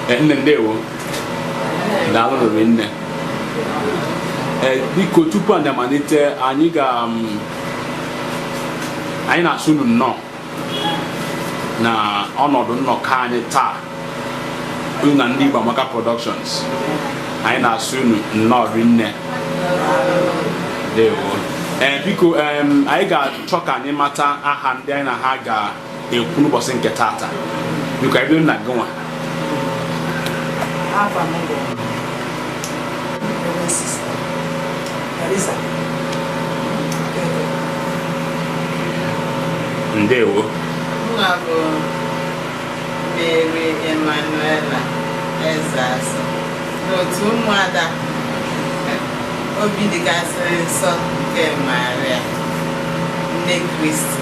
Eh, nne ndewo daalụ rinne Eh, biko tupu anyị amalite anyị ga um, anyị na-asị unu nnọọ na ọnọdụ nnọkọ anyị taa unu na ndị Igbo Amaka Productions anyị na-asị unu nnọọ rinne ndewo Eh, biko em, anyị ga-achọ ka anyị mata aha ndị anyị na ha ga ekwu n'ụbọchị nke tata biko anyị bido na gị nwa ndewo abụ m Mary Emmanuela Ezeasu n'otu ụmụada obi dịkasịrị nsọ nke Maria nne Kristi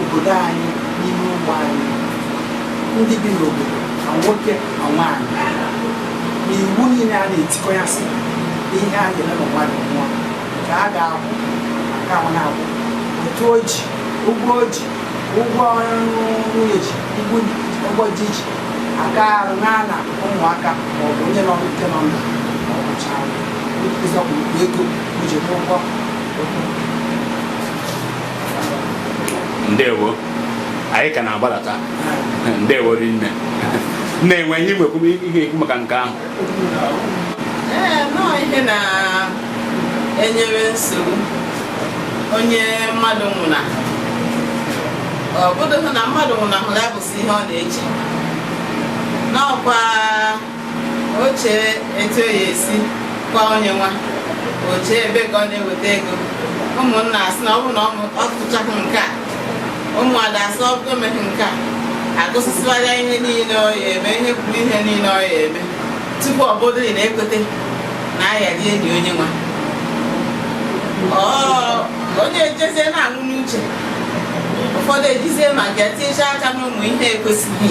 obodo anyị n'ime ọgbọ anyị ndị bi n'obodo ma nwoke ma nwaanyị na iwu niile a na-etikọ ya sị na ihe a ga-eme ma mmadụ nwụọ nke a ga-akwụ maka ahụ na-akwụ otu o ji ụgwọ o ji ụgwọ ọrụ nwunye ji ụgwọ ụgwọ di ji aka arụ na na ụmụaka ma ọ bụ onye nọ nke nọ ndụ ma ọ kwụchaa ego o ji n'ụgwọ ndewo anyị ka na-agbalata ndewo rinne na-enwe ihe ekwu maka nke ahụ ihe na-enyere nsogbu onye mmadụ nwụna ọ bụdụghị na mmadụ nwụnahụrụ ya bụzi ihe ọ na-eche n'ọkwa o chee etu ọ ya esi kwaa onye nwa o chee ebe ka ọ na-eweta ego ụmụnna asị na ọ bụrụ na ọ tụchaghị nke a ụmụada asị ọ bụrụ emeghị nke a agụsịsịwara ya ihe niile ọ ya eme ihe kwuru ihe niile ọ ya eme tupu ọ bụrụ na ekweta na a yadị eli onye nwa onye ejezie na-anwụ n'uche ụfọdụ ejizie maka ya etinyecha aka n'ụmụ ihe ekwesịghị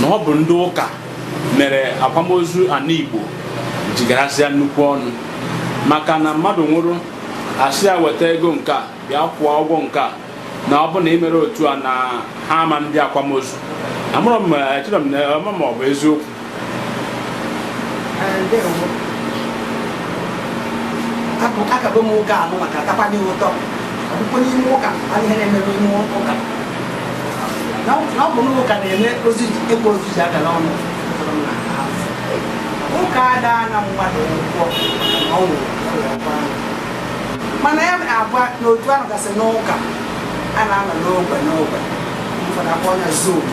na ọ bụ ndị ụka mere akwamozu ana Igbo ji garazịa nnukwu ọnụ maka na mmadụ nwụrụ asị ya weta ego nke a bịa kwụọ ụgwọ nke a na ọ bụ na i merọ otu a na ha ama ndị akwamozu amarọ m echere m ma ọ bụ eziokwu akabe m ụka anụ maka atakwana ụtọ ọbụkwa n'ime ụka a ihe na-emebe ime ụka na ọ bụ n'ụka na-eme ịkwa ozu ji agara ọnụ ụka ada ana mmadụ ụgwọ ọ nwụrụ mana ya aba n'otu ahụ gasị n'ụka a na-anọ n'ogbe n'ogbe ụfọdụ akpọ ya zone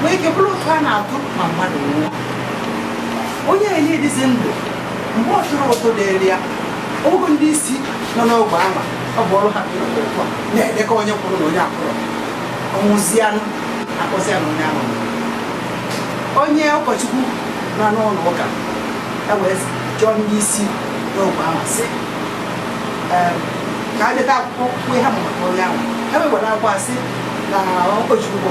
nwee ike bụrụ ụtụ a na-atụ ma mmadụ nwụọ onye enye dịzi ndụ mgbe ọ chụrụ ụtụ dịrị ya ogo ndị isi nọ n'ogbe ama ọ bụ ọrụ ha na-edekọ onye kwụrụ na onye akwụrọ ọ nwụzianụ a kpọzi ya na onye ahụ onye ụkọchukwu nọ n'ụlọ ụka e wee jụọ ndị isi n'ogbe ahụ sị ka ha deta akwụkwọ kwue ha maka onye ahụ ha wewere akwa sị na ụkọchukwu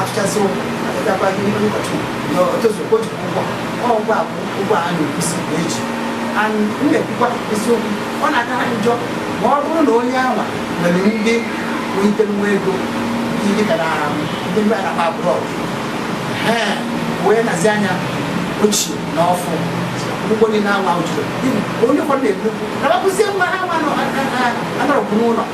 atụchasị ụkwụ abịakwa gị n'ihu ụbọchị na o tozuru ka o jikwa ụgwọ ọ ụgwọ a bụ ụgwọ a na-ekwusi na e ji and m na-ekwukwa eziokwu ọ na-aka ha njọ ma ọ bụrụ na onye anwa nwere ndị nwelitere nwa ego ndị dịka na ndị mba na-akpọ abroad ee wee nezi anya ochie na ọfụụ ụgwọ niile anwa o jiri onye ụfọdụ na-ekwu na bakụzie nwa ha nwa anọrọkwu n'ụlọ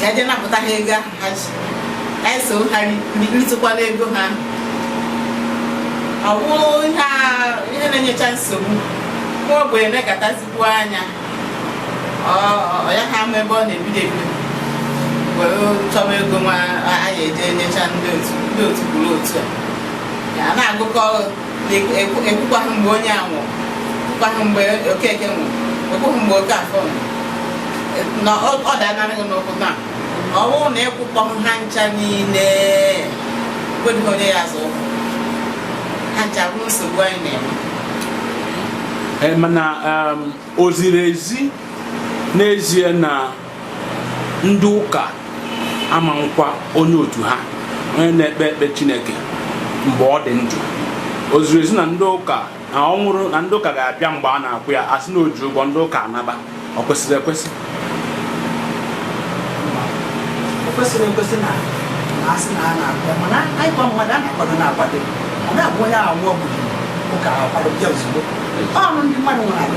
ka e je napụta ha ego ahụ ha ji ka anyị so ha ritụkwala ego ha ọ bụrụ ihe na-enyecha nsogbu nwa ogbenye na-ekatazikwu anya ọ yaha ama ebe ọ na-ebido ebido were chọba ego nwa a ya eji nyecha ndị otu ndị otu kwuru otu a na-agụkọ ị kwụkwaghị mgbe onye a nwụrụ ị kwụkwaghị mgbe okeke nwụrụ ị kwụghị mgbe okafọ na ọ danarịghị n'ụkwụ na ọ bụrụ na ị kwụkọghị ha ncha niile o nwedịghị onye ya azọ ụkwụ ha ncha bụ nsogbu anyị na-enwe eh, mana um, o ziri ezi n'ezie na ndị ụka ama nkwa onye otu ha onye na-ekpe ekpe chineke mgbe ọ dị ndụ o ziri ezi na ndị ụka na ọ nwụrụ na ndị ụka ga-abịa mgbe a na-akwa ya a sị na o ji ụgwọ ndị ụka anaba ọ kwesịrị ekwesị o kwesịrị ekwesị na a sị na a na-akwụ mana anyị kwa mmadụ a na-akwado na-akwado ọ ga-abụ onye nwụọ ndị ụka akwado bịa ozugbo ọnụ ndị mmadụ nwere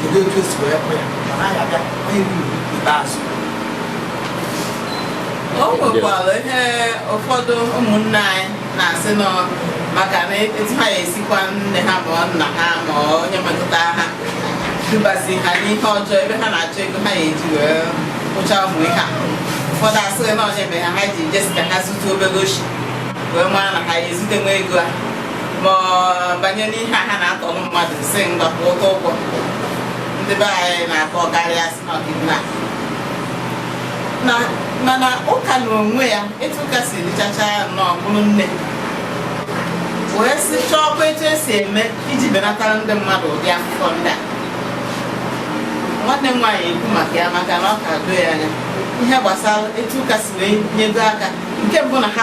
kedu etu e si wee kwụ ya ọ naghị abịa onye bụ ikpeazụ o nwekwara ihe ụfọdụ ụmụnne anyị na-asị nọ maka na etu ha ya esi kwa nne ha ma ọ nna ha ma ọ onye metụta ha dubazi ha n'ihe ọjọọ ebe ha na-achọ ego ha ya eji wee kwụcha ụmụ ihe a ụfọdụ asịrị na ọ ya mere ha ha ji je sị ka ha zute obere oshi wee mara na ha ya ezute nwa ego a ma banye n'ihe a ha na-atọ mmadụ si ngakwa ụtọ ụgwọ ndị be anyị na-akọ karịa si n'ọdịnana mana ụka na onwe ya etu ụka si dịchacha ya nnọọ bụrụ nne wee sị chọọkwa etu e si eme iji benatara ndị mmadụ ụdị akụkọ ndị a nwanne m nwaanyị ekwu maka ya maka na ọ ka doo ya anya ihe gbasara etu ụka si wee nyego aka nke mbụ na ha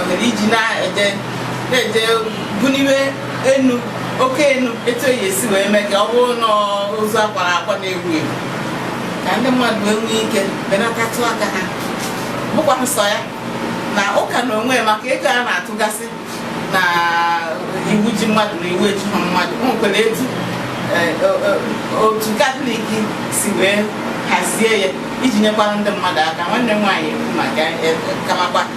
ohere iji na-eje na-eje buniwe enu oke enu etu eyi esi wee mee ka ọ bụrụ na ozu akwara akwa na-ewu ewu ka ndị mmadụ wee nwee ike benatatụ aka ha bụkwa nsọ ya na ụka na onwe maka ego a na-atụgasị na iwu ji mmadụ na iwu ejiha mmadụ o nwekwara etu eh, o- o- otu katọlik si wee hazie ya iji nyekwara ndị mmadụ aka nwanne m nwaanyị ekwu maka ya, eh, ka amakwa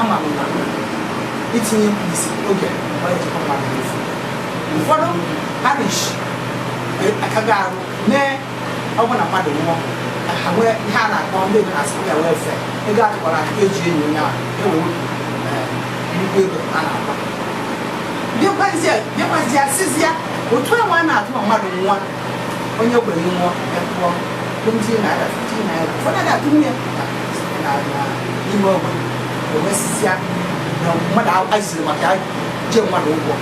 ama m na itinye mkpirisi oge ọ na-echekwa mmadụ n'efu ụfọdụ parish akaghị arụ mee ọ bụ na mmadụ nwụọ ka ha nwee ihe a na-akpọ ndị oyibo na-asị ya welfare ego atụkwara aka eji eni onye ahụ ewee wepụ eh, nnukwu ego a na-akpa bịakwazie bịakwazie asịzịa ụtụ ahụ a na-atụ ma mmadụ nwụọ onye ogbenye nwụọ a kwụọ 20 naira 15 naira ụfọdụ ga-atụ nwunye n'ime ogbe ewesịsịa na mmadụ aziziri maka iji mmadụ ụgwọ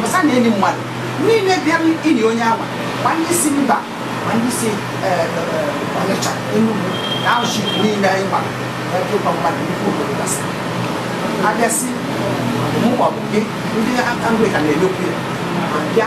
masa na enyi mmadụ niile bịara ili onye ama ma ndị si mba ma ndị si ọnịcha enugwu na auchi niile anyị mara ebe ụgwọ mmadụ nnukwu obodo gasị abịasị mụ maọbụ gị ndị anglican na-emekwu ya ma bịa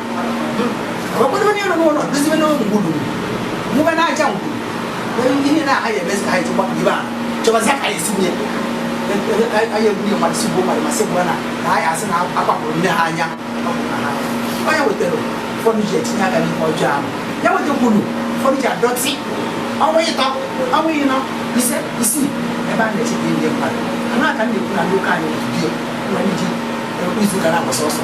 ọkpọdụ onye nọ n'ụlọ dozibe n'ụlọ ngwuru mụba n'aja ngwuru ihe na anyị emezi ka anyị ji gbapụ ibe a chọbazi ka anyị si nye anyị egbunye mmadụ si gbuo mmadụ masị gbura na na anyị asị na akwapụrụ nne ha anya ọ ya wetara ụfọdụ ji etinye aka n'ihe ọjọọ ahụ ya wetakwuru ụfọdụ ji adọtị ọnwa ịtọ ọnwa ịnọ ise isii ebe a na-echekwa ndị mmadụ ha na-aka ndị ekwu na ndị ụka anyị dị ụlọ ndị ji izu gara agba sọsọ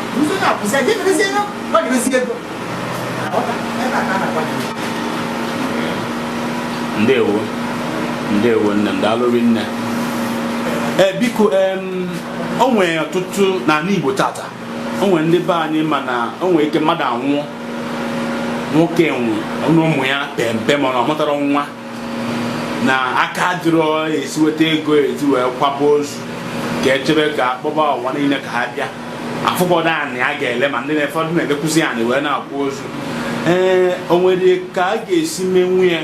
Nso na akwụsị aja emerezi ego gbadirezi ego. Aghọta ebe a ka a na-agwa gị. ndewo ndewo nne m daalụ rinne ee biko em, o nwere ọtụtụ n'ala igbo tata o nwere ndị be anyị mana o nwere ike mmadụ anwụọ nwoke nwụọ nụ ụmụ ya pe mpe mana ọ mụtara nwa na aka adịrọ esi weta ego ezi wee kwaba ozu ka echebe ka akpọba ụwa niile ka ha bịa afụgodu anị a ga-ele ma ndị ụfọdụ na-elekwuzi anị wee na-akwa ozu ee o nwere ka a ga-esi menwu ya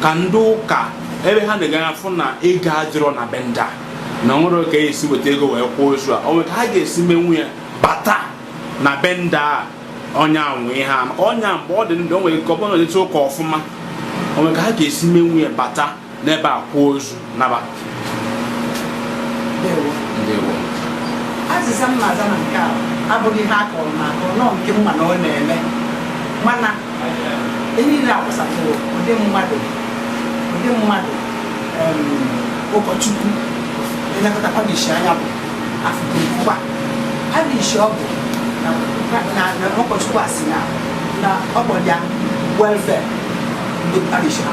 ka ndị ụka ebe ha na-enega anya fụ na ego adịrọ na be ndị a na enwerọ ka e si weta ego wee kwaa ozu a o nwere ka ha ga-esi menwu ya bata na be ndị a onye anwụ ihe a maka onye mgbe ọ dị ndụ o nwere ike ọ bụrụ na etu ụka ọfụma o nwere ka ha ga-esi menwu ya bata n'ebe a kwuo ozu naba azịza m na-aza na nke a abụghị ihe a kọrọ m akọrọ na ọ nke m ma na ọ na-eme mana ihe niile akwụsatụrụ ụdị mmadụ ụdị mmadụ ụkọchukwu elekọta parish anya bụ afụkwa parish ọbụna ụkọchukwu a si na ọ bụ ya welfare ndị parish ha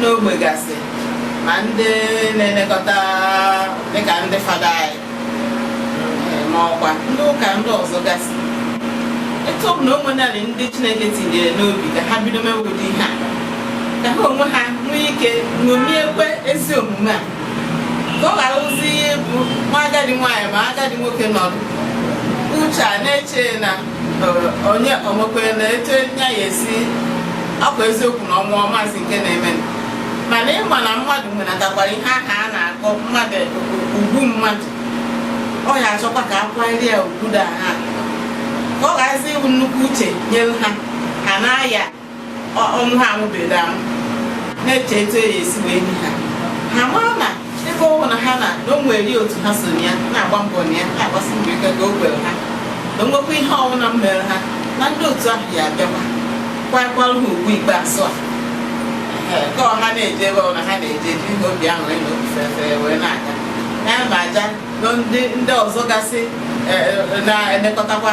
n'ogbe gasị ma ndị na-elekọta dịka ndị fada anyị ma ọkwa ndị ụka ndị ọzọ gasị etu ọ bụla o nwenarị ndị chineke tinyere n'obi ka ha bido mewe ụdị ihe a ka ha onwe ha nwee ike ṅomiekwa ezi omume a ka ọ gharazi ịbụ ma agadi nwaanyị ma agadi nwoke nọdụ uche a na-eche na onye omekwere na etu a ya esi akwa eziokwu na ọ nwụọ ọ mazị nke na-eme mana ị ma na mmadụ nwenatakwara ihe ahụ a na-akpọ mmadụ ugwu mmadụ ọ ya achọkwa ka a kwanyere ya ugwu da ha ka ọ gharazi ịbụ nnukwu uche nyere ha ha na-aya ọnwụ ha anwụbeghị anwụ na-eche etu a ya-esi wee nie ha ha mara na ebe ọbụna ha nọ na o nwere otu ha so ya na-agba mbọ na ya na-agbasi mbọ ike ka o kwere ha na o nwekwa ihe ọbụla mere ha na ndị otu ahụ ya abịakwa kwakwara ha ugwu ikpeazụ a ka ọ ha na-eje ebe ọbụla ha na-eje jiri obi aṅụrị na obi fefere wee na-aga ya na aja ndị ọzọ gasị na-elekọtakwa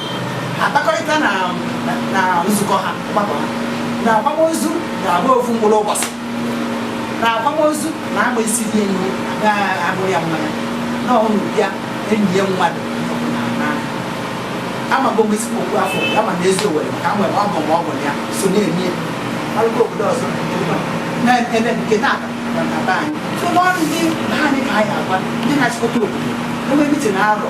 akpakọrịta na na nzukọ ha ọgbakọ ha na akwamozu na-agba ofu mkpụrụ ụbọchị na akwamozu na agba isi dị enyi abụrụ ya mmanya na ọnụ bịa enyi ya mmadụ amago m ezigbo okwu afọ ya ma na Eziowelle maka m nwere ọgọ ma ọ bụ ya so na-eme ọrụgo obodo ọzọ na-eme nke na-ata na na be anyị so n'ọrụ ndị be anyị ka anyị agwa ndị na-achịkọta obodo enwe mitin arọ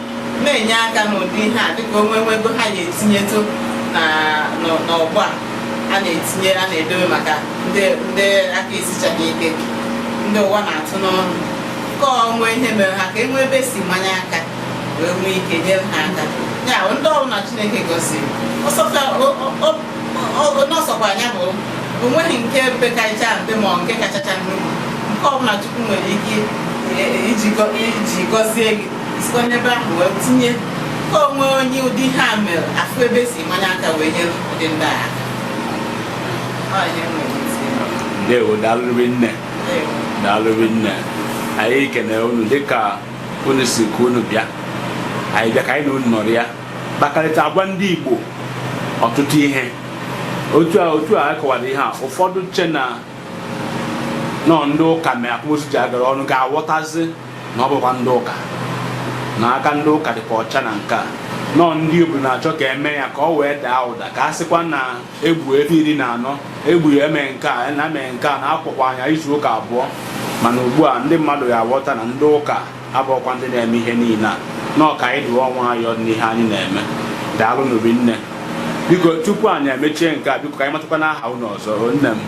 na-enye aka n'ụdị ihe a dịka o nwee ego ha ga-etinyetụ n'ọgbọ a a na-etinye a na-edobe maka ndị aka esichaghị ike ndị ụwa na-atụ n'ọnụ nke o nwe ihe mere ha ka e nwee ebe e si manye aka wee nwee ike nyere ha aka ya ndị ọbụna Chineke gọziri n'ọsọkwa anya bụ o nweghị nke pekacha mpe ma nke kachacha nnukwu nke ọbụla Chukwu nwere ike iji gọzie gị sikwa n'ebe ahụ wee tinye ka o nwee onye ụdị ihe a mere a fụ ebe e si manye aka wee nyere ụdị ndị a aka ndewo daalụrị nne daalụrị nne anyị kene unu dịka unu sị ka unu bịa anyị bịa ka anyị na unu nọrịa kpakarịta agwa ndị Igbo ọtụtụ ihe otu a a kọwara ihe a ụfọdụ che na n'ọ ndị ụka mee akwamozu ji agara ọnụ ga-aghọtazi na ọ bụkwa ndị ụka na aka ndị ụka dịkwa ọcha na nke a n'ọ ndị obodo na-achọ ka e mee ya ka o wee daa ụda ka a sịkwa na e gbuo efi iri na anọ e gbuo ya e mee nke a na e mee nke a na a kwakwa onye a izu ụka abụọ mana ugbu a ndị mmadụ ya-aghọta na ndị ụka abụọkwa ndị na-eme ihe niile a na ọ ka anyị dụọ onwe anyị n'ihe anyị na-eme daalụ n'obi nne biko tupu anyị emechie nke a biko ka anyị matakwanụ aha unu ọzọ nne m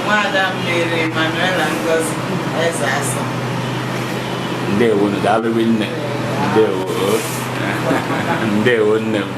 nwaada Mary Manuela Ngozi Ezeasọ ndewo ndewo nne m